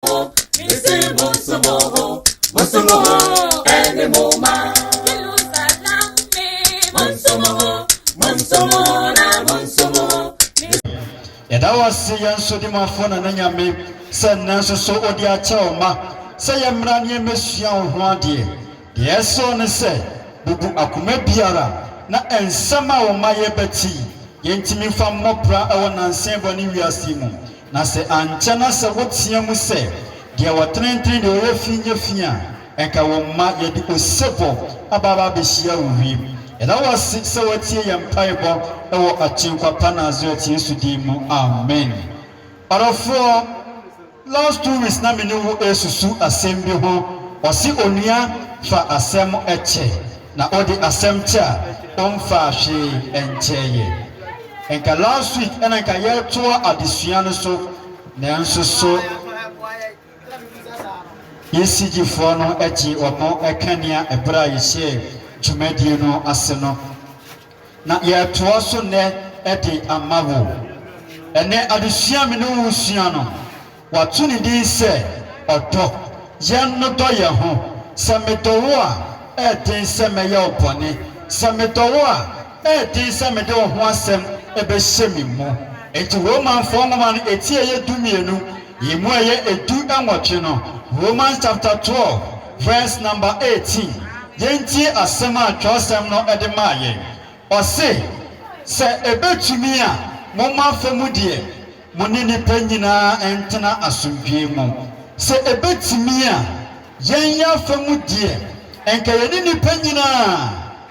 Missy Monsumoho, Monsumoho, any moma. Monsumoho, Monsumoho, na Monsumoho. yɛda wo ase yɛn nso de mu afɔ na na nyame sɛ nnɛ nso so ɔde akyɛ wo ma sɛ yɛmmra ne yɛmmɛsua wo ho adeɛ deɛ ɛsɔ ne sɛ bubu akoma biara na nsɛm a wo ma yɛbɛte yi yɛntumi mfa mmɔ bra ɛwɔ nansa bɔne wiase mu Na sɛ ankyɛ na sɛ woteɛ mu sɛ, Deɛ ɔtenetene deɛ ɔyɛ fi nyɛ fi a, nka wo mma yɛde osebɔ aba aba abɛhyia wo wiem. Yɛda wo ase sɛ woatie yɛn mpaebɔ wɔ Agyenkwa pa Nasaret Yesu din mu, amen. Ɔdɔfoɔ, last two weeks na me ne wo resusu asɛm bi ho, ɔse onua fa asɛm kyɛ. Na ɔde asɛm te a ɔmfaa hwee nkyɛɛ yɛn. Nka last week na nka yɛretoa adesua no so nanso so ECG foɔ no gye wɔn kanea ɛberɛ a yɛhyɛɛ dwumadie no ase no. Na yɛretoa so nnɛ de ama wo. Ɛnnɛ adesua a me ne wo resua no, Wɔato ne din sɛ Ɔdɔ. Yɛn no dɔ yɛn ho. Sɛ medɔ wo a, ɛyɛ den sɛ mɛyɛ wo bɔne. Sɛ medɔ wo a, ɛyɛ den sɛ mede wo ho asɛm bɛhyɛ me mu. Enti Romanfoɔ nwoma no eti ɛyɛ dumienu yi mu ɛyɛ edu nwɔtwe no, Romans chapter twelve verse number eighteen, yɛntie asɛm a twerɛsɛm no de maa yɛn. Ɔse, Sɛ ɛbɛtumi a, momma fam deɛ. Mo ne nnipa nyinaa ntena asomdwoe mu. Sɛ ebetumi a, yɛn yɛn afa mu deɛ, anka yɛne nnipa nyinaa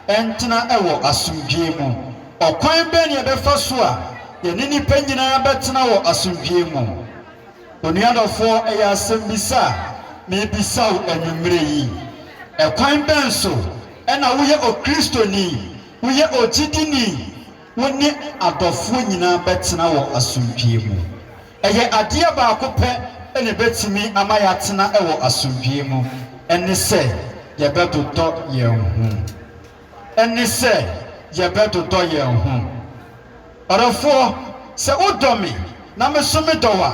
ntena wɔ asomdwoe mu. Ɔkwan bɛn na yɛbɛfa so a yɛne nnipa nyinaa bɛtena wɔ asomdwoe mu? Onua dɔfoɔ, ɛyɛ asɛmmisa a merebisa wo anwummerɛ yi. Ɛkwan bɛn so na woyɛ Okristoni, woyɛ ogyidini, Wo ne adɔfoɔ nyinaa bɛtena wɔ asomdwoeɛ mu. Ɛyɛ adeɛ baako pɛ na ɛbɛtumi ama yɛatena wɔ asomdwoeɛ mu, ɛne sɛ yɛbɛdodɔ yɛn ho. Ɛne sɛ yɛbɛdodɔ yɛn ho. Ɔdɔfoɔ, sɛ wodɔ me na me nso medɔ wo a,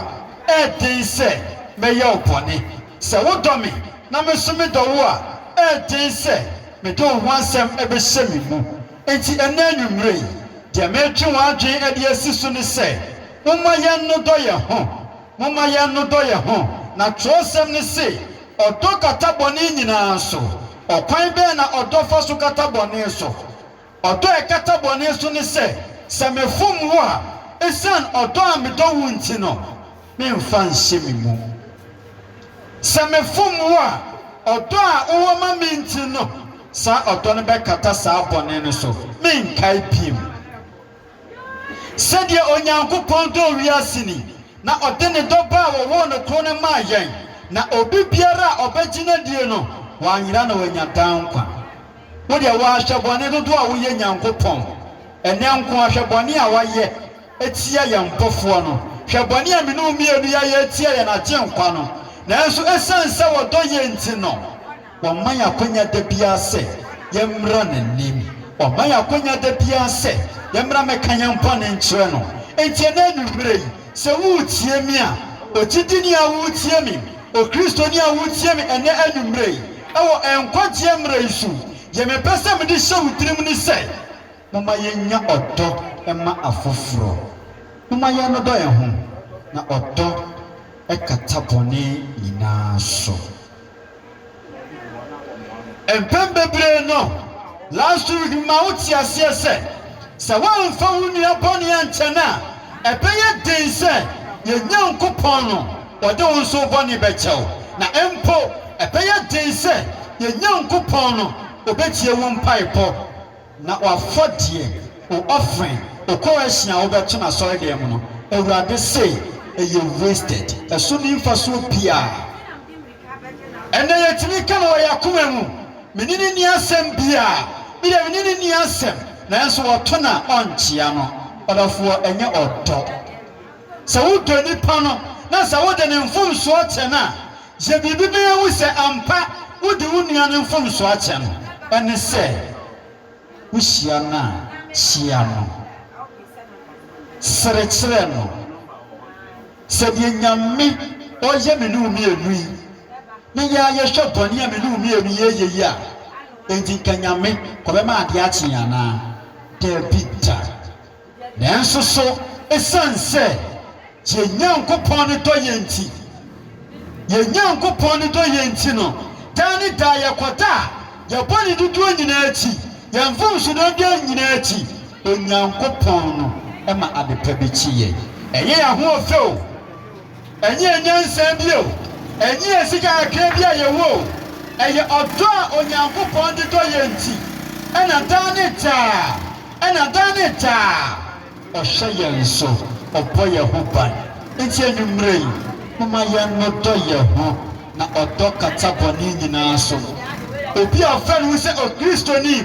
ɛyɛ den sɛ mɛyɛ wo bɔne. Sɛ wodɔ me na me nso medɔ wo a, ɛyɛ den sɛ mede wo ho asɛm bɛhyɛ me mu. Enti ɛnnɛ anwummere yi, deɛ meretwe wɔn adwene de asi so ne sɛ, Momma yɛnnodɔ yɛn ho. Momma yɛnnodɔ yɛn ho. Na twerɛsɛm no se, Ɔdɔ kata bɔne nyinaa so. Ɔkwan bɛn na ɔdɔ fa so kata bɔne so? Ɔdɔ a ɛkata bɔne so ne sɛ, sɛ mefom wo a, ɛsiane ɔdɔ a medɔ wo nti no, Memmfa nhyɛ me mu. Sɛ mefom wo a, ɔdɔ a wowɔ ma me nti no, saa ɔdɔ no bɛkata saa bɔne no so, merenkae bio. Sɛdeɛ Onyankopɔn dɔɔ wiase ni, na ɔde ne dɔ Ba a wɔwoo no koro no maa yɛn, na obi biara a ɔbɛgye no adie no, wanyera na wanya daa nkwa. Wo deɛ, woahwɛ bɔne dodoɔ a woyɛ Nyankopɔn. Ɛnnɛ nko ara, hwɛ bɔne a woayɛ atia yɛn Mpofoɔ no. Hwɛ bɔne a mene wo mmienu yɛayɛ atia yɛn Agyenkwa no! Nanso ɛsiane sɛ wɔdɔ yɛn nti no, wɔma yɛn akwanya da biara sɛ yɛmmra N'anim. Wɔma yɛn akwanya da biara sɛ yɛmmra mmɛka yɛn bɔne nkyerɛ No. Enti ɛnnɛ anwummerɛ yi, sɛ woretie me a, ogyidini a woretie me, Okristoni a woretie me ɛnnɛ anwummerɛ yi, wɔ nkwagyeɛ mmerɛ yi so, deɛ mepɛ sɛ mede hyɛ wo tirim ne sɛ, Momma yennya ɔdɔ mma afoforo. Momma yɛnnodɔ yɛn ho, na ɔdɔ kata bɔne nyinaa so. Mpɛn bebree no, Lazarus ma wote aseɛ sɛ, sɛ woamfa wo nua bɔne ankyɛ no a, ɛbɛyɛ den sɛ yɛn Nyankopɔn no, ɔde wo nso wo bɔne bɛkyɛ wo, na mpo ɛbɛyɛ den sɛ yɛn Nyankopɔn no, ɔbɛtie wo mpaebɔ. Na w'afɔdeɛ, wo offering, wo kɔrɛhyen a wobɛto no asɔredan mu no, Awurade se, ɛyɛ wasted, ɛso nni mfasoɔ biara. Ɛnna yɛtumi ka no wɔ yɛn akoma mu, Mene no nni asɛm biara, me deɛ mene no nni asɛm, nanso wɔto no a, ɔnkyea no. Ɔdɔfoɔ, ɛnyɛ ɔdɔ. Sɛ wodɔ nipa no, na sɛ wode ne mfomsoɔ kyɛ no a, Sɛ biribi bɛyɛ wo sɛ ampa wode wo nua no mfomso akyɛ no, ɛne sɛ wuhyia no a, hyia no. Sere kyerɛ no. Sɛdeɛ Nyame ɔyɛ me ne wo mmienu yi, ne yɛ ara yɛhwɛ bɔne a me ne wo mmienu yi ɛyɛ yi a, enti nka Nyame ɔbɛma adeɛ akye yɛn anaa? Dabi da. Nanso so esiane sɛ yɛn Nyankopɔn no dɔ yɛn nti, yɛn Nyankopɔn no dɔ yɛn nti no, daa ne daa yɛkɔda yɛn bɔne dodoɔ nyinaa akyi, yɛn mfomsodoɔ dodoɔ nyinaa akyi? Onyankopɔn no ma adepa bi kye yɛn. Ɛyɛ yɛn ahoɔfɛ o! Ɛnyɛɛ nyansa bi o, ɛnyɛɛ sika kakra bi a yɛwɔ o, ɛyɛ ɔdɔ a Onyankopɔn de dɔ yɛn nti na daa ne daa, na daa ne daa Ɔhwɛ yɛn so, Ɔbɔ yɛn ho ban. Enti anwummerɛ yi, momma yɛnnodɔ yɛn ho, na ɔdɔ kata bɔne nyinaa so. Obi a ɔfrɛ ne ho sɛ Okristoni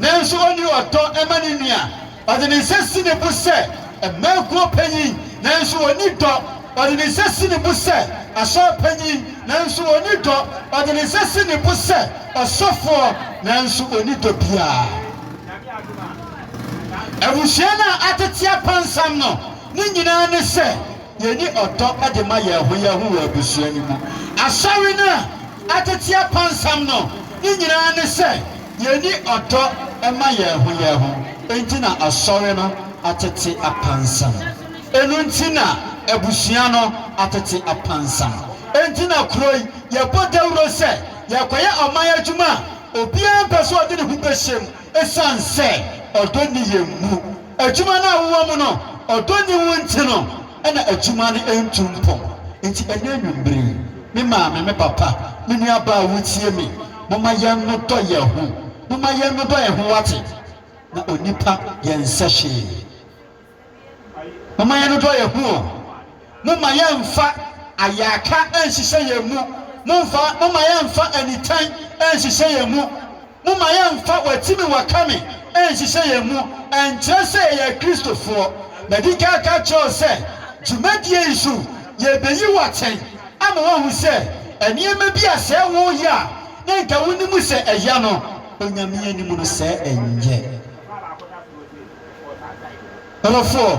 nanso ɔnni ɔdɔ ma ne nua, Ɔde ne nsa si ne bo sɛ, Mmaa Kuo Panyin, nanso ɔnni dɔ. Ɔde ne nsa si ne bo sɛ, Asɔre Panyin, nanso ɔnni dɔ. Ɔde ne nsa si ne bo sɛ, Ɔsɔfoɔ, nanso ɔnni dɔ biara. Abusua no a atete apansam no, ne nyinaa ne sɛ. Yenni ɔdɔ de ma yɛn ho yɛn ho wɔ abusua no mu. Asɔre no a ɛtete apansam no ne nyinaa ne sɛ yenni ɔdɔ mma yɛn ho yɛn ho. Enti na asɔre no atete apansam. Ɛno nti na abusua no atete apansam. Enti na kuro yi yɛbɔ dawuro sɛ yɛrekɔyɛ ɔman adwuma a obiara mpɛ sɛ ɔde ne ho bɛhyɛm esiane sɛ ɔdɔ nni yɛn mu. Adwuma no a wowɔ mu no, ɔdɔ nni wo nti no na adwuma no ntu mpɔn. Enti ɛnnɛ anwummere yi, me maame, me papa, me nuabaa a wutie me, momma yɛnnodɔ yɛn ho. Momma yɛnnodɔ yɛn ho, woate? Na onipa, yɛnsɛ hwee. Momma yɛnnodɔ yɛn ho o. Momma yɛmfa ayayaka nnhyehyɛ yɛn mu, momfa, momma yɛmfa anitan nnhyehyɛ yɛn mu, momma yɛmfa wɔati me wɔaka me nnhyehyɛ yɛn mu, ɛnkyerɛ sɛ yɛyɛ Akristofoɔ. Madi kan aka kyerɛ wo sɛ dwumadie yi so yɛrebɛyi wo atɛn ama woahu sɛ nneɛma bi a sɛ woreyɛ a na nka wonim sɛ ɛya no, Onyame anim no sɛ ɛnyɛ. Ɔdɔfoɔ.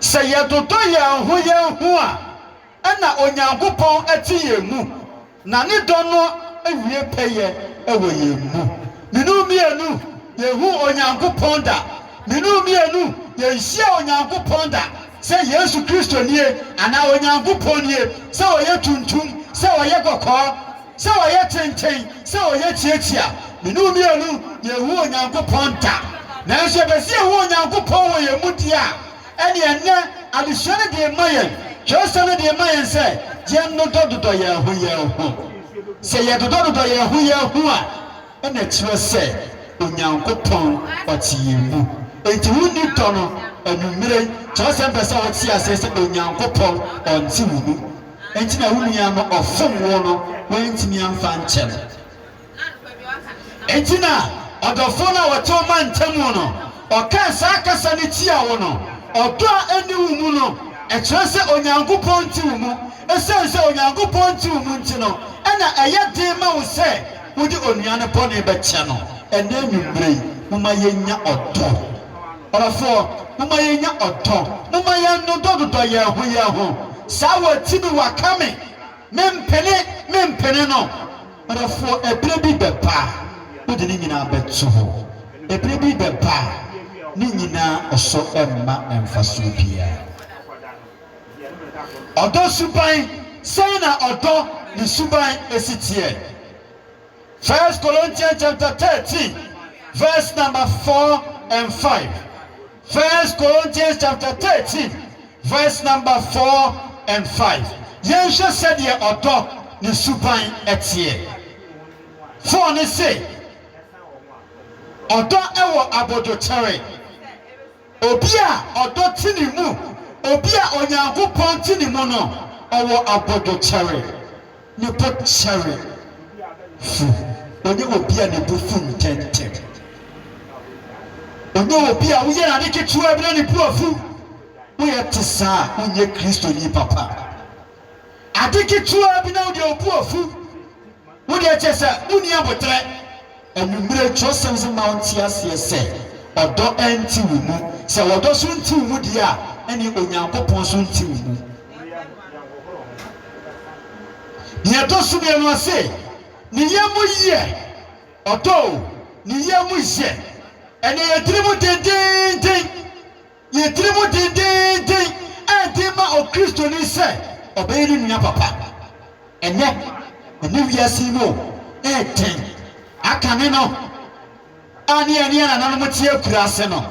Sɛ yɛdodɔ yɛn ho yɛn ho a, ɛnna Onyankopɔn te yɛn mu, na ne dɔ no wie pɛyɛ wɔ yɛn mu. Menu mmienu, yɛnhu Onyankopɔn da. Menu mmienu, yɛnhyia Onyankopɔn da, sɛ Yesu Kristo nie, anaa Onyankopɔn nie, sɛ ɔyɛ tuntum, sɛ ɔyɛ kɔkɔɔ. Sɛ wɔyɛ kyenkyen, sɛ wɔyɛ kyiakyia, me ne wo mmienu, yɛnhu Onyankopɔn da. Nanso yɛpɛ sɛ yɛhu Onyankopɔn wɔ yɛn mu deɛ a, ɛnneɛ ɛnnɛ adesua no de rema yɛn, twerɛsɛm no de rema yɛn sɛ yɛnnodɔdodɔ yɛn ho yɛn ho. Sɛ yɛdodɔdodɔ yɛn ho yɛn ho a, ɛnna ɛkyerɛ sɛ Onyankopɔn ɔte yɛn mu. Enti wonni dɔ no? Anwummerɛ yi, twerɛsɛm pɛ sɛ wote aseɛ sɛ Onyankopɔn ɔnte wo mu. Enti na wo nua no ɔfom wo no wantumi amfa ankyɛ no. Enti na ɔdɔfoɔ no a wɔte wo mantamu no ɔkaa saa kasa no tia wo no. Ɔdɔ a ɛnni wo mu no, ɛkyerɛ sɛ Onyankopɔn nte wo mu. Ɛsiane sɛ Onyankopɔn nte wo mu nti no, ɛnna ɛyɛ den ma wo sɛ wode onua no bɔne bɛkyɛ no. Ɛnnɛ anwummere yi, momma yɛnnya ɔdɔ. Ɔfoɔ, momma yɛnnya ɔdɔ. Momma yɛnnodɔdodɔ yɛn ho yɛn ho. Saa wati no waka me, mempene, mempene no. Ɔdɔfoɔ, ɛberɛ bi bɛba a wode ne nyinaa bɛto hɔ. Ɛberɛ bi bɛba a ne nyinaa ɔsɔ ɛmma mfasoɔ biara. Ɔdɔ suban, sɛn na ɔdɔ ne suban si teɛ? First Corinthians chapter thirteen verse number four and five. First Corinthians chapter thirteen verse number four and five. Yɛnhwɛ sɛdeɛ ɔdɔ ne suban teɛ. Foɔ ne se, ɔdɔ wɔ abodokyɛre. Obi a ɔdɔ te ne mu, obi a Onyankopɔn te ne mu no, ɔwɔ abodwokyɛre, ne bo kyɛre fu. Ɔnyɛ obi a ne bo fu ntɛmntɛm. Ɔnyɛ obi a woyɛ no ade ketewaa bi na ne bo afu. Woyɛ te saa a, wonyɛ Kristoni papa. Ade ketewa bi na wode abu afu. Wo deɛ kyerɛ sɛ wonni aboterɛ. Anwummere twerɛsɛm se ma wo nte aseɛ sɛ ɔdɔ nte wo mu. Sɛ ɔdɔ so nte wo mu deɛ a, ɛneɛ Onyankopɔn so nte wo mu. Deɛ ɛtɔ so mmienu ɔse, ne yɛ mu yɛ ɔdɔ o, ne yɛ mu yɛ, ɛneɛ yɛtiri mu dendeenden. yɛ tirim dendeenden a ɛde ma Okristoni sɛ ɔbɛyɛ ne nua papa. Ɛnnɛ, ɛne wiase yi mu ɛreden. Akane no a ne yɛne yɛn nananom te akuraase no,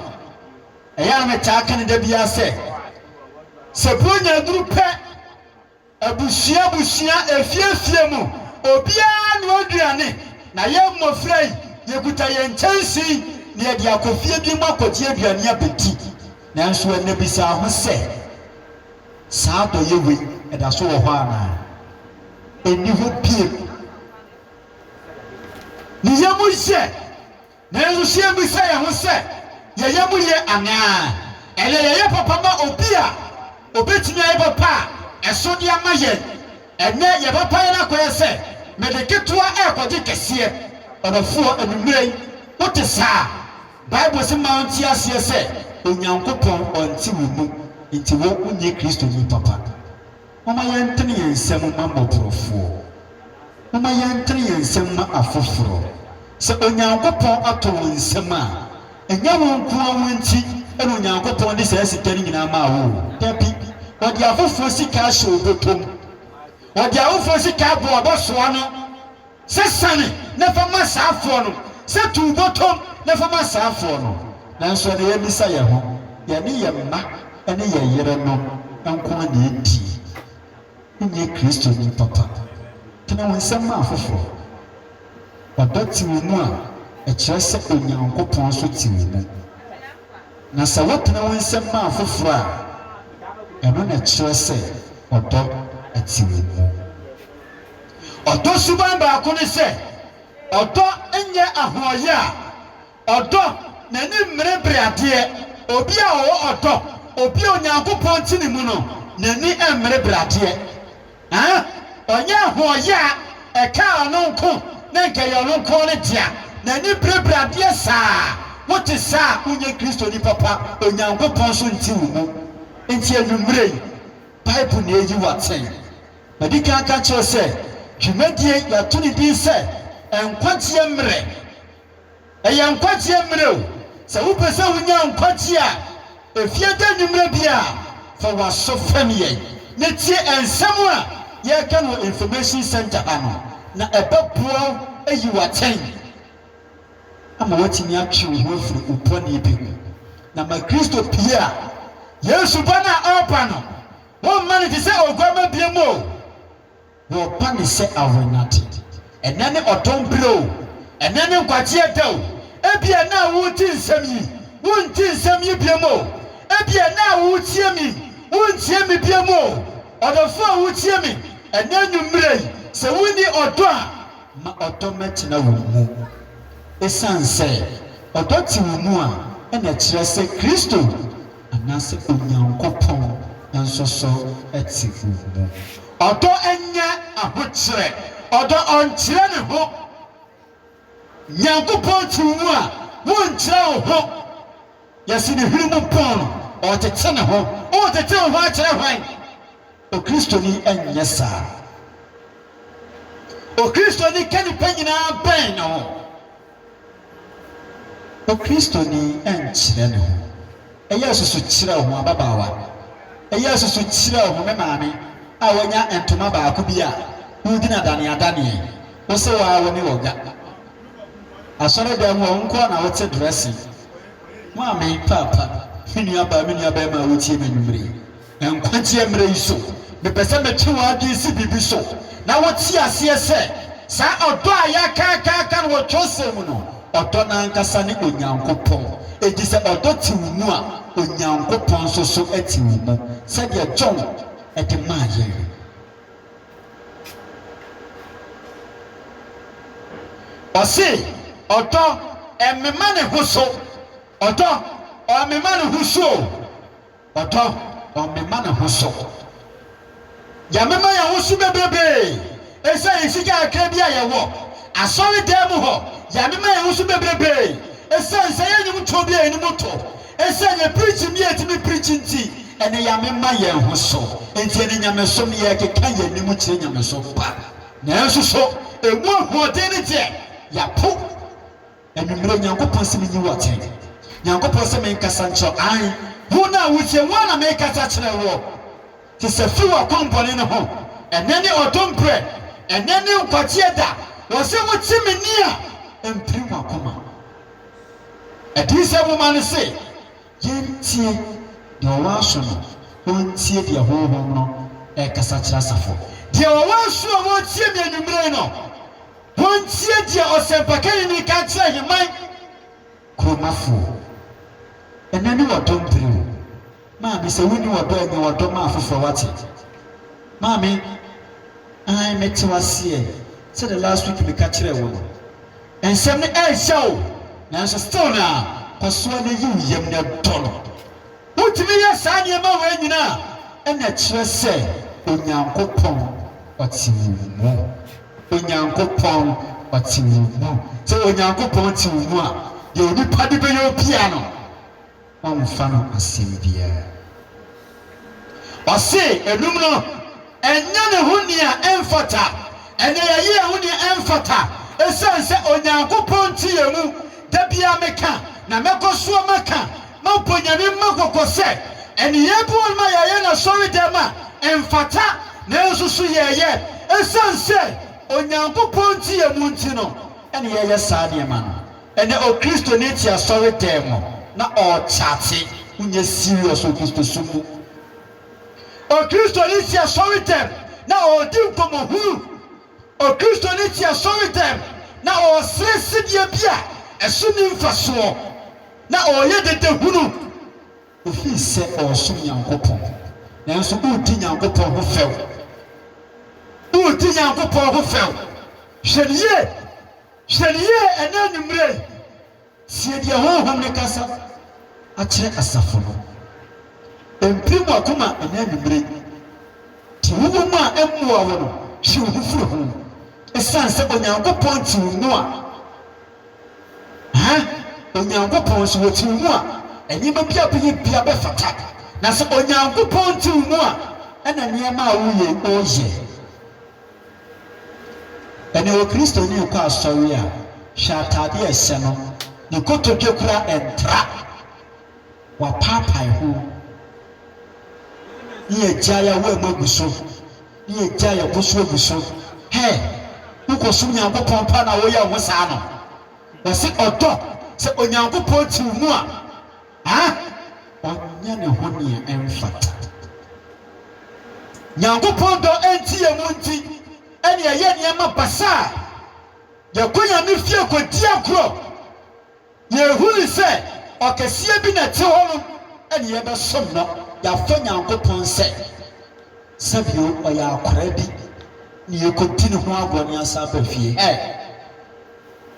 ɛyɛ a na metaa ka no da biara sɛ, Sɛ Buronya aduru pɛ, Abusua abusua, efie efie mu, obiara anoa aduane, na yɛn mmofra yi, yekuta yɛn nkyɛnsee na yɛde akɔ fie bi mu akɔgye aduane abedi. Nanso ɛnnɛ bisa ho sɛ, Saa adɔeyɛ wei, ɛda so wɔ hɔ anaa? Enni hɔ bio. Ne yam yɛ. Nanso so yebisa yɛn ho sɛ yɛyɛ mu ye anaa? Ɛyɛ yɛyɛ papa ma obi a obetumi ayɛ papa a ɛso de ama yɛn? Ɛnyɛ, yɛn papayɛ no akɔyɛ sɛ mede ketewa rekɔgye kɛseɛ. Ɔdɔfoɔ, anwummerɛ yi wote saa? Bible se ma ɔnte aseɛ sɛ Onyankopɔn ɔnte wo mu, enti wo wonyɛ Kristoni papa. Momma yɛntene yɛn nsam mma mmɔborɔfoɔ. Momma yɛntene yɛn nsam mma afoforɔ. Sɛ Onyankopɔn atɔ wɔn nsam a, ɛnyɛ wo nko ara wo nti na Onyankopɔn de saa sika no nyinaa maa wo o. Dabi, ɔde afoforɔ sika ahyɛ wo bɔtɔ mu. Ɔde afoforɔ sika aboa wo bɛsoa ano. Sɛ sane na fa ma saa foɔ no, sɛ tu wo bɔtɔm na fa ma saa foɔ no. Nanso ɛnna yɛabisa yɛn ho, yɛne yɛn mma ne yɛn yerenom nko ara na ɛdie. Wonyɛ Kristoni papa. Tene wo nsɛm ma afoforɔ. Ɔdɔ te wo mu a, ɛkyerɛ sɛ Onyankopɔn nso te wo mu. Na sɛ wotene wo nsɛm ma afoforɔ a, ɛno na ɛkyerɛ sɛ ɔdɔ te wo mu. Ɔdɔ suban baako ne sɛ ɔdɔ nyɛ ahoɔyɛ a ɔdɔ n'ani mmere bere adeɛ. Obi a ɔwɔ ɔdɔ, obi a Onyankopɔn te ne mu no, n'ani mmere bere adeɛ. Aa! Ɔnyɛ ahoɔyɛ a ɛka ɔno nko na nka ɛyɛ ɔno nko ne dea. N'ani bere bere adeɛ saa. Wote saa a, wonyɛ Kristoni papa, Onyankopɔn nso nte wo mu. Enti anwummere yi, Bible na ɛyi wo atɛn. Madi kan aka akyerɛ wo sɛ dwumadie yi yɛato ne din sɛ nkwagyeɛ mmerɛ. Ɛyɛ nkwagyeɛ mmerɛ o. Sɛ wopɛ sɛ wonya nkwagyeɛ a ɛfiri ɛda anwummerɛ biara a, fa w'aso fam yɛn na tie nsɛm a yɛreka no wɔ Information Centre ha no na ɛbɛboa wo ayi wo atɛn ama woatumi atwe wo ho afiri wo bɔne bi ho na ma Kristo pue a Yesu ba no a ɔreba no Wɔmma no te sɛ oguamma biam o, wɔpa no sɛ awennade. Ɛnnɛ ne ɔdɔn bere o, ɛnnɛ ne nkwagyeɛ da o, ebia ɛnnɛ a woredi nsɛm yi, worenti nsɛm yi biam o, ebia ɛnnɛ a woretie me yi, worentie me biam o. Ɔdɔfoɔ a woretie me ɛnnɛ anwummerɛ yi, sɛ wonni ɔdɔ a, ma ɔdɔ mmɛtena wo mu. Esiane sɛ ɔdɔ te wo mu a, ɛna ɛkyerɛ sɛ Kristo Anaasɛ Onyankopɔn nso so te wo mu? Ɔdɔ nyɛ ahokyerɛ. Ɔdɔ ɔnkyerɛ ne ho. Nyankopɔn te wo mu a, wonkyerɛ wo ho. Yɛse ne hwene mu pɔn no, ɔretete ne ho. Woretete wo ho akyerɛ hwan? Okristoni nyɛ saa. Okristoni ka nnipa nyinaa bɛn ne ho. Okristoni nkyerɛ ne ho. Ɛyɛ asusu kyerɛw ho ababaawa. Ɛyɛ asusu kyerɛw ho me maame a wanya ntoma baako bi a wodi no adaneadaneɛ. Wo se wo ara wo ne ɔga. Asɔredan mu a wo nko ara na wote dressing. Maame, Paapa, me nuabaa, me nuabarima a wotie me anwummere yi. Nkwagyeɛ mmerɛ yi so, mepɛ sɛ metwe w'adwene si biribi so na wote aseɛ sɛ, saa ɔdɔ a yɛakaakaaka no wɔ twerɛsɛm mu no, ɔdɔ no ankasa ne Onyankopɔn. Enti sɛ ɔdɔ te wo mu a, Onyankopɔn nso so te wo mu, sɛdeɛ John de maa yɛn no. Ɔse, Ɔdɔ, ɛmema ne ho so. Ɔdɔ, ɔmema ne ho so o. Ɔdɔ, ɔmema ne ho so. Yɛmema yɛn ho so bebrebe esiane sika kakra bi a yɛwɔ. Asɔredan mu hɔ, yɛmema yɛn ho so bebrebe esiane sɛ yɛn nnwomtoɔ bi a yɛn anim tɔ, esiane yɛn preaching bi a yɛtumi preach nti, ɛnde yɛamema yɛn ho so. Enti ɛnde nyamesom, yɛrekeka yɛn anim kyerɛ nyamesom pa. Nanso so emu ahoɔden no deɛ, yɛapo Anwummere, Nyankopɔn se menyi wo atɛn. Nyankopɔn se menkasa nkyerɛ wo. Aane, wo no a wotie, wo ara na merekasa kyerɛ woɔ. Te sɛ fi w'akwammɔne no ho. Ɛnnɛ ne ɔdom berɛ, ɛnnɛ ne nkwagyeɛ da. Wɔse wote me nne a, ɛmpirim w'akoma. Adiyisɛm nwoma no se yɛntie deɛ ɔwɔ aso no ɔntie deɛ Honhom no rekasa kyerɛ asafo. Deɛ ɔwɔ aso a ɔretie me anwummere yi no. Hontie deɛ ɔsɛmpakanyi no reka nkyerɛ Heman kuromafoɔ. Ɛnnɛ ne wɔdɔ mpire o. Maame, sɛ wonni wɔdɔ a, nya wɔdɔ ma afoforɔ wate. Maame, Aane, mete wo aseɛ. Sɛdeɛ last week meka kyerɛɛ wo no. Nsɛm no ɛɛhyɛ o, nanso still no a, kɔsoa na yi wo yam na dɔ no. Wotumi yɛ saa nneɛma wei nyinaa a, ɛnna ɛkyerɛ sɛ Onyankopɔn ɔte wo mu. Onyankopɔn ɔte wo mu. Sɛ Onyankopɔn te wo mu a, deɛ onipa de bɛyɛ wo biara no, womfa no asɛm biara. Ɔse, ɛnum no. Ɛnyɛ ne ho nea ɛmfata. Ɛnna yɛyɛ yɛn ho nea ɛmfata esiane sɛ Onyankopɔn te yɛn mu. Da biara meka, na mɛkɔ so maka, mabɔ Nyame mma kɔkɔ sɛ, nneyɛe binom a yɛyɛ no asɔredɛm a ɛmfata nanso so yɛyɛ esiane sɛ Onyankopɔn te yɛn mu nti no na yɛyɛ saa nneɛma no. Ɛnnɛ Okristoni te asɔredɛm na ɔrekyate. Wonyɛ serious wɔ Kristosom mu. Okristoni si asɔredɛm na ɔredi nkɔmmɔhunu. Okristoni si asɔredɛm na ɔresrɛ sɛdeɛ bi a ɛso nni mfasoɔ, na ɔreyɛ dadahunu. Ɛfiri sɛ ɔresom Nyankopɔn, nanso woredi Nyankopɔn ho fɛw. Woredi Nyankopɔn ho fɛw. Hwɛ no yie. Hwɛ no yie ɛnnɛ anwummerɛ yi. Tie deɛ Honhom no kasa akyerɛ asafo no. Mpirim w'akoma ɛnnɛ anwummere. Deɛ wowɔ mu a ɛmmoa wo no, twe wo ho firi ho. Ɛsiane sɛ Onyankopɔn te wo mu a, ha, Onyankopɔn nso, ɔte wo mu a, nneɛma bi a bɛyɛ biara bɛfata. Na sɛ Onyankopɔn te wo mu a, ɛna nneɛma a woreyɛ yi, woreyɛ. Ɛnna ɔyɛ Kristoni rekɔ asɔre a, hwɛ atade a ɛhyɛ no, ne kotodwe koraa ɛntra, wapaapae ho, ne yɛagyae awɔamu agu so, ne yɛagyae yɛn bo so agu so. Hɛ! Wokɔsom Nyankopɔn pa na woyɛ wo ho saa no? Wɔse ɔdɔ, sɛ Onyankopɔn te wo mu a, a ɔnyɛ ne ho nea ɛmfata. Nyankopɔn dɔ nti yɛn mu nti ɛne yɛyɛ nneɛma basaa, yɛkɔ Nyame fie kɔdi agorɔ, yɛhunu sɛ ɔkɛseɛ bi na ɛte hɔ nom ɛne yɛbɛsom no, yɛafɔ Nyankopɔn sɛ sɛbio ɔyɛ akoraa bi na yɛkɔdi ne ho agorɔ na yɛasan aba fie. Ɛ!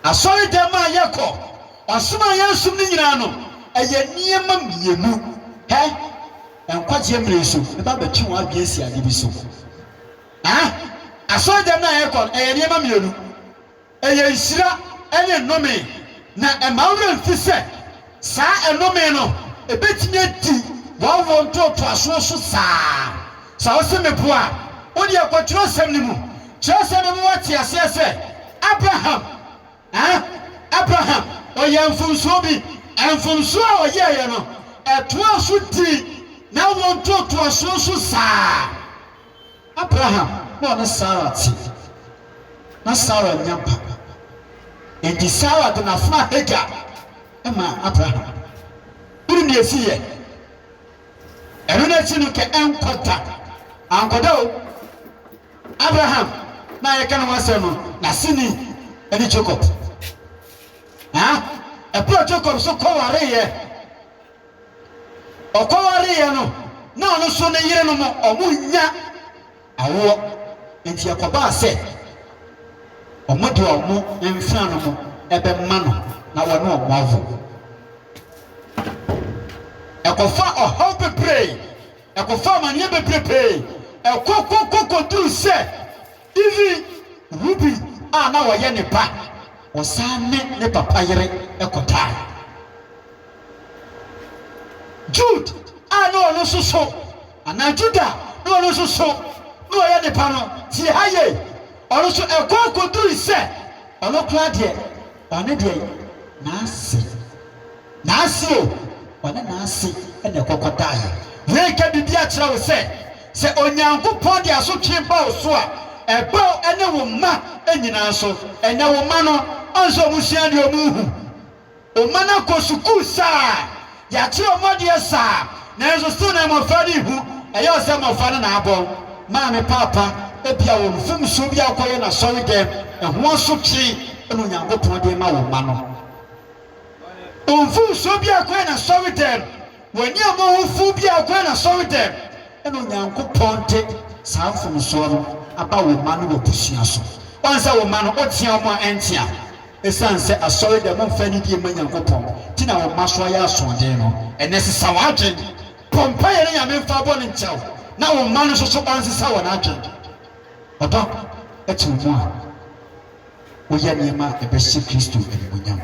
Asɔredɛm a yɛkɔ, ɔsom a yɛresom no nyinaa no, ɛyɛ nneɛma mmienu. Hɛ! Nkwagyeɛ mmere nso, mɛba abɛtwe wɔn adwene asi adeɛ bi so. Hɛ! Asɔredɛm no a yɛkɔ no, ɛyɛ nneɛma mmienu. Ɛyɛ nhyira ne nnome, na ɛma wo werɛ mfi sɛ Saa ɛnome no bɛtumi adi wɔn wɔ ntoatoasoɔ so saa. Sɛ wose meboa a, wodeɛ kɔ twerɛsɛm no mu. Twerɛsɛm no ma woate aseɛ sɛ Abraham, eh, Abraham, ɔyɛɛ mfomsoɔ bi. Mfomsoɔ a ɔyɛeɛ no, ɛtoaa so dii n'awoɔ ntoatoasoɔ so saa. Abraham na ɔne Sara te. Ná Sara nnya mpa. Enti Sara de n'afenaa Hagar maa Abraham. Wonim nea esii ɛ? Ɛno na esi no kɛ ɛnkɔ da. Ankɔ da o! Abraham no a yɛreka ne ho asɛm no, n'aseni ne Jacob. Aa! Bere a Jacob nso kɔwaree ɛ! Ɔkɔwareyɛ no, na ɔno nso ne yerenom wɔnnya awoɔ, enti ɛkɔbaa sɛ wɔde wɔn mfeanom bɛma no na wɔne wɔn awo. Ɛkɔfa ɔhaw bebree, ɛkɔfa amaneɛ bebrepee, ɛkɔkɔkɔ kɔduru sɛ. Even Ruby a na ɔyɛ ne ba, ɔsan ne ne papa yere kɔdae. Jude a na ɔno nso so, anaa Judah a na ɔno nso so na ɔyɛ ne ba no, tie ha yie, ɔno nso ɛkɔe kɔdurui sɛ ɔno koraa deɛ Ɔne deɛ n'ase, n'ase o, ɔne n'ase na ɛkɔkɔtaeɛ. Yei ka biribi akyerɛ wo sɛ, sɛ Onyankopɔn de asotwe ba wo so a, ɛba wo ne wo mma nyinaa so. Ɛnnɛ wo mma no, ɔnsɛ wɔn sua adeɛ, wɔnhu. Wo mma no akɔ sukuu saa. Yɛakye wɔn adeɛ saa, nanso still na mmɔfra no rehu. Ɛyɛ a sɛ mmɔfra no na abɔ wɔn maa me paapa, ebia wɔn mfomsoɔ bi a wokɔyɛ no asɔredɛm, ɛho asotwe na Onyankopɔn de rema wo mma no. Wɔn mfomsoɔ bi a wokɔyɛ no asɔredɛm, wɔn ani a mmɔ ho fu bi a wokɔyɛ no asɔredɛm, ɛna Onyankopɔn de saa mfomsoɔ no aba wo mma no w'abusua so. Woahu sɛ wo mma no, wotea wɔn a ɛntea. Esiane sɛ asɔredɛm mfa nidie mma Nyankopɔn nti na wo mma so ayɛ asoɔden no, ɛnnɛ sesa w'adwen. Bɔ mpaeɛ na Nyame mfa bɔne nkyɛ wo na wo mma no nso so ɔnsesa wɔn adwen. Ɔdɔ te wo mu a, woyɛ nneɛma a ɛbɛhyɛ Kristo animuonyam.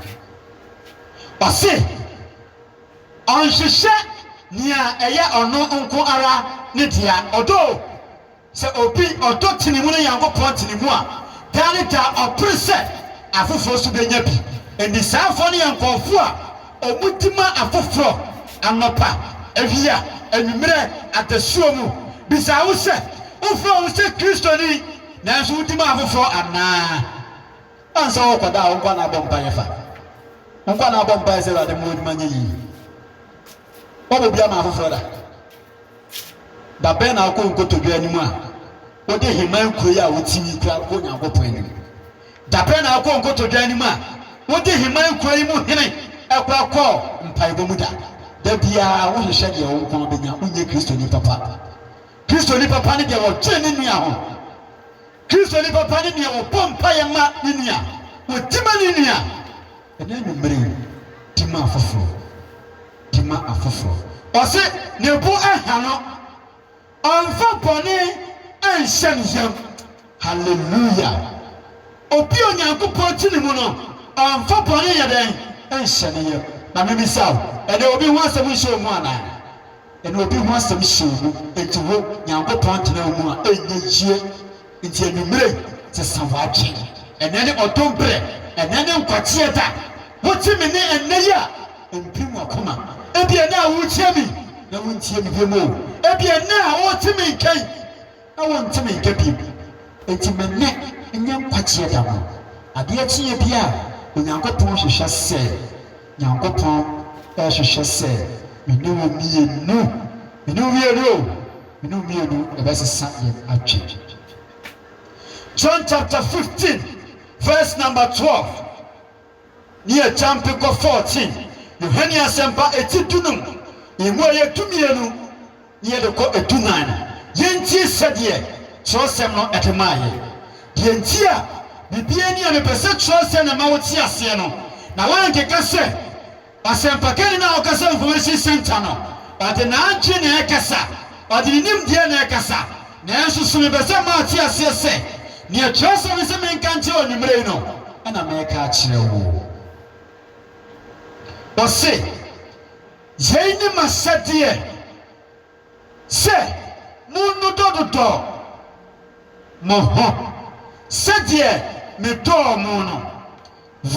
Ɔse ɔnhwehwɛ nea ɛyɛ ɔno nko ara ne dea. Ɔdɔ o! Sɛ obi ɔdɔ tinimu ne Nyankopɔn tinimu a, daa ne daa ɔpere sɛ afoforɔ nso bɛnya bi. Enti saafoɔ no yɛ nkɔɔfoɔ a ɔmu di ma afoforɔ anɔpa, awia, anwummerɛ, adasuo mu. Bisa wo sɛ, wofrɛ wo ho sɛ Kristoni nanso wodi ma afoforɔ anaa? Ansɛ wokɔ da a wo nkoa na abɔ mpaeɛ fa. Wo nkoa na abɔ mpaeɛ sɛ Awurade mma w'adwuma nyɛ yie. Wɔbɔ bi ama afoforɔ da. Da bɛn na wokɔ nkotodwe anim a wode heman kuro yi a wote mu yi kura kɔ Onyankopɔn anim? Da bɛn na wokɔ nkotodwe anim a wode heman kuro yi mu hene kɔ kɔ mpaebɔ mu da? Da biara wohwehwɛ deɛ wo nko ara bɛnya, wonyɛ Kristoni papa. Kristoni papa ne deɛ ɔdwene ne nua ho. Kristoni papa ne nea ɔbɔ mpaeɛ ma ne nua, ɔdi ma ne nua, ɛnɛ anwummere yi, di ma afoforɔ, di ma afoforɔ. Ɔse ne bo nha no, ɔmfa bɔne nhyɛ ne yam. Hallelujah! Obi a Onyankopɔn te ne mu no, ɔmfa bɔne nyɛ dɛn? Nhyɛ ne yam. Na mebisa wo, ɛnɛ obi ho asɛm nhyɛ wo mu anaa? Ɛno obi ho asɛm hyɛ wo mu, enti wo, Nyankopɔn tena wo mu a, ɛnyɛ yie. Enti anwummerɛ yi, sesa w'adwen. Ɛnnɛ ne ɔdom berɛ, ɛnnɛ ne nkwagyeɛ da. Wote me nne ɛnnɛ yi a, ɛmpirim w'akoma. Ebia ɛnnɛ a woretie me yi, na wontie me bio o. Ebia ɛnnɛ a worete me nka yi. na wɔnte me nka bio, enti me nne nyɛ nkwagyeɛ da mu. Adeɛ kyeeɛ bi a Onyankopɔn hwehwɛ sɛ Nyankopɔn rehwehwɛ sɛ me ne wo mmienu, me ne wo mmienu o, me ne wo mmienu ɛbɛsesa yɛn adwene. John chapter 15 verse number 12. ne agyampe kɔ Fourteen, Yohane Asɛmpa eti dunum yi mu a ɛyɛ dumienu ne yɛde kɔ edunan no, yɛntie sɛdeɛ twerɛsɛm no de maa yɛn. Deɛ nti a biribiara ni a mepɛ sɛ twerɛsɛm no ma wote aseɛ no, na woankeka sɛ. Ɔsɛmpakanyi no a ɔkasa wɔ Information Centre no, ɔdze n'adwen na ɛrekasa, ɔdze ne nyimdzee na ɛrekasa. Nanso so mepɛ sɛ moatse aseɛ sɛ nea Kyerɛwsɛm no se menka nkyerɛ wo anwumerɛ yi no na mereka akyerɛ wo? Ɔse, Yei ne m'ahyɛdeɛ. sɛ, Monnodɔdodɔ mo ho sɛdeɛ medɔɔ mo no.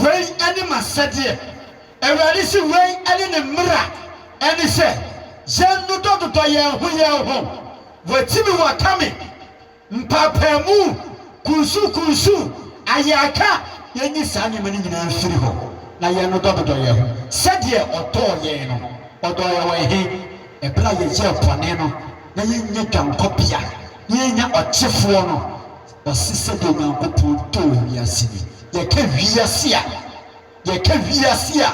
Wei ne m'asɛdeɛ, Awurade se, wei ne ne mmara, ɛne sɛ, yɛnnodɔdodɔ yɛn ho yɛn ho. Wɔatimi wɔaka me. Mpaapaamu, kunsukunsu, ayarka, yɛnyi saa nneɛma no nyinaa mfiri hɔ na yɛnnodɔ dodɔ yɛn ho sɛdeɛ Ɔdɔɔ yɛn no. Ɔdɔɔ yɛn wɔ ɛhe? Ɛberɛ a yɛyɛɛ bɔne no, na yɛnnya dwankɔbea, na yɛnnya ɔkyefoɔ no. Ɔse sɛdeɛ Nyankopɔn dɔɔ wiase ni. Yɛka wiase a, yɛka wiase a.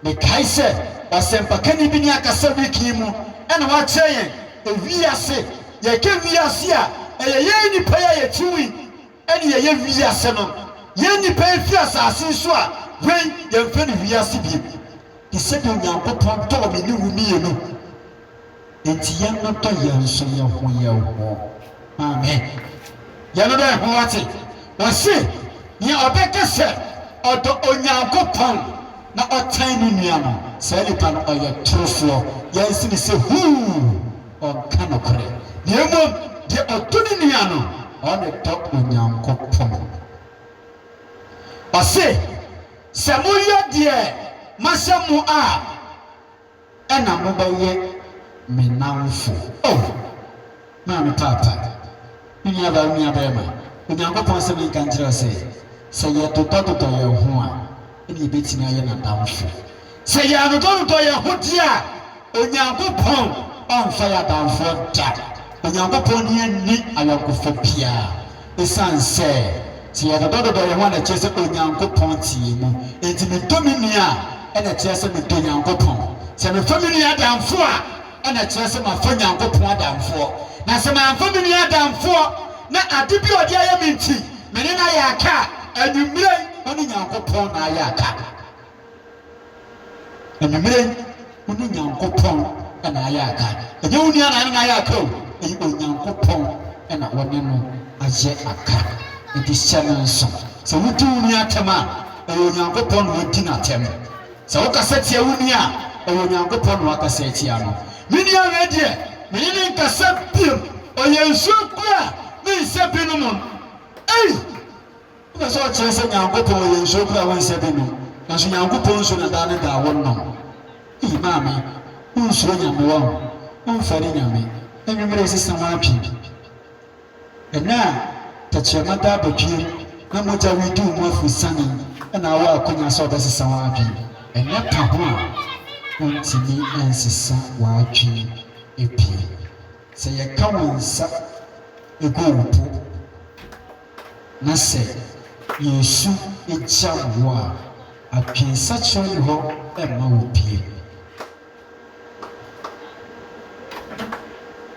Mekae sɛ ɔsɛmpakani bi ne akasa week yi mu na wakyerɛ yɛn ewiase. Yɛka wiase a, ɛyɛ yɛn nnipa yi a yɛte mu yi na yɛyɛ wiase no. Yɛn nnipa yi fi asase yi so a, wei yɛmfrɛ no wiase bio. Te sɛdeɛ Onyankopɔn dɔɔ me ne wo mmienu. Enti yɛnnodɔ yɛn so yɛn ho yɛn ho. Amen. Yɛnnodɔ yɛn ho, wate. Wɔse, Nea ɔbɛka sɛ ɔdɔ Onyankopɔn na ɔtan ne nua no, saa nipa no, ɔyɛ torofoɔ. Yɛnse no sɛ, Huu! Ɔnka nokorɛ. Na mmom, deɛ ɔdɔ ne nua no, ɔne dɔ Onyankopɔn. Ɔse, Sɛ moyɛ deɛ mahyɛ mo a. na mobɛyɛ me nnamfo. O me maame paapa, me nuabaa, me nuabarima, Onyankopɔn se menka nkyerɛ wo sɛ, sɛ yɛdodɔdodɔ yɛn ho a, ɛnna yɛbɛtumi ayɛ n'adamfo. Sɛ yɛannodɔdodɔ yɛn ho deɛ a, Onyankopɔn ɔmfa yɛn adamfoɔ da. Onyankopɔn ne yɛn nni ayɔnkofa biara. Esiane sɛ teɛ dodɔ dodɔ wo ho a na ɛkyerɛ sɛ Onyankopɔn teɛ mu. Enti medɔ me nua a, na ɛkyerɛ sɛ medɔ Nyankopɔn. Sɛ mefa me nua adamfo a, na ɛkyerɛ sɛ mafa Nyankopɔn adamfoɔ. Na sɛ mamfa me nua adamfoɔ na ade bi a ɔde ayɛ me nti, me ne no ayɛ aka a, anwummerɛ yi, me ne Nyankopɔn na ayɛ aka. Anwummere yi, wo ne Nyankopɔn na ayɛ aka. Ɛnyɛ wo nua na ne no ayɛ aka o, ɛyɛ Onyankopɔn na wo ne no ayɛ aka. Enti hyɛ no nso sɛ wodi wo nua atɛm a, ɛyɛ Onyankopɔn na wadi no atɛm. Sɛ wokasa tia wo nua a, ɛyɛ Onyankopɔn na woakasa atia no. Me nua wei deɛ, me ne no nkasa bio. Ɔyɛ nsuo kura a, me nsɛ bi nom no. Ei! Nna sɛ ɔkyerɛ sɛ Nyankopɔn yɛ nsuo kor a wonnsa bi no, naaso Nyankopɔn nsuo na daa ne daa wɔnom. Ei maame, wonnsuro Nyame wahu, womfa ne Nyame. Anwummerɛ yi sesa w'adwen. Ɛnnɛ a tɛkyerɛma da abɔdweam na mogya redi wo mu afurusiane na wowɔ akwanya sɛ wobɛsesa w'adwen. Ɛnyɛ ka ho a wontumi nsesa w'adwen abien. Sɛ yɛka wo nsa gu wo bo. Na sɛ yɛn su gyam wo a, adwensakyera nni hɔ mma wo bio.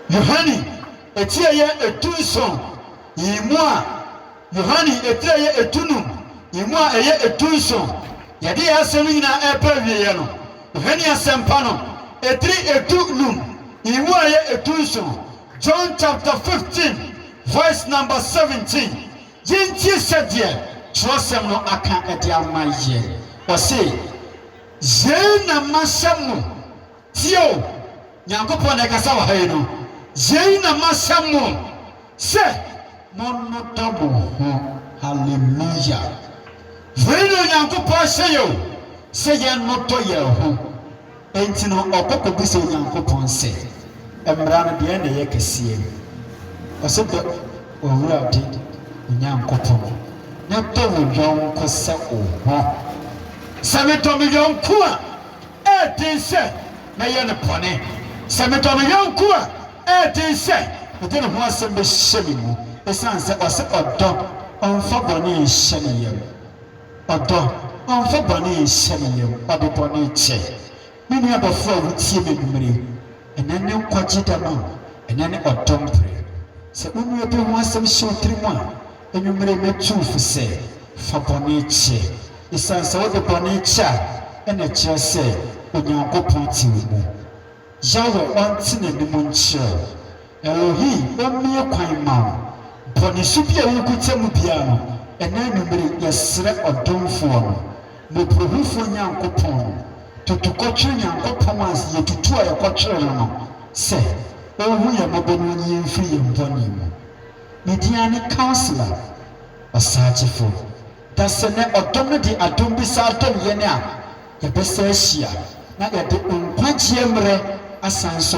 Yohane atieyɛ edunson yi mu a, Yohane atieyɛ edunum yi mu a ɛyɛ edunson, yɛde yɛn asɛm no nyinaa ɛreba awieɛ no, Yohane Asɛmpa no etiri edu num yi mu a ɛyɛ edunson, John chapter 15. Verse number seventeen, Yɛntie sɛdeɛ twerɛsɛm no aka de ama yɛn, ɔse, Yei na mahyɛ mo, tie o, Nyankopɔn na ɛkasa wɔ ha yi no, Yei na mahyɛ mo sɛ monnodɔ mo ho, Hallelujah, Wei na Onyankopɔn ahyɛ yɛn o, sɛ yɛnnodɔ yɛn ho. Enti no ɔkɔ kɔbisa Onyankopɔn sɛ, Mmara no, deɛn na ɛyɛ kɛseɛ? Ɔse, Dɔ w'Awurade wo Nyankopɔn, na dɔ wo yɔnko sɛ wo ho. Sɛ medɔ me yɔnko a, ɛyɛ den sɛ mɛyɛ no bɔne. Sɛ medɔ me yɔnko a, ɛyɛ den sɛ mede ne ho asɛm bɛhyɛ me mu, ɛsiane sɛ ɔse ɔdɔ, ɔmfa bɔne nhyɛ ne yam. Ɔdɔ, ɔmfa bɔne nhyɛ ne yam, ɔde bɔne kyɛ. Me nua dɔfo a wutie me anwummere yi, ɛnnɛ ne nkwagye da ma wo, ɛnnɛ ne ɔdɔ bere. Sɛ wo nua bi ho asɛm hyɛ wo tirim a, anwummere yi metu wo fo sɛ, fa bɔne kyɛ. Esiane sɛ wode bɔne kyɛ a, ɛnna ɛkyerɛ sɛ Onyankopɔn te wo mu. Yawɛ, ɔnte n'anim nkyerɛ wo. Elohi ommue kwan mma wo. Bɔ ne su bi a wokuta mu biara no ɛnnɛ anwummere, yɛsrɛ Ɔdomfoɔ no, Mmɔborɔhufoɔ Nyankopɔn no, tutu kɔtwere Nyankopɔn a yɛtutu a yɛkɔtwere no no, sɛ Ɔnhu yɛn mmɔbɔ na Ɔnyi yɛn mfiri yɛn bɔne mu. Ne din ara ne Counsellor, Ɔsaakyefo. Dasɛ nɛ ɔdɔ no de adom bi saa dom yɛn a, yɛbɛsan ahyia na yɛde nkwagyeɛ mmerɛ asan nso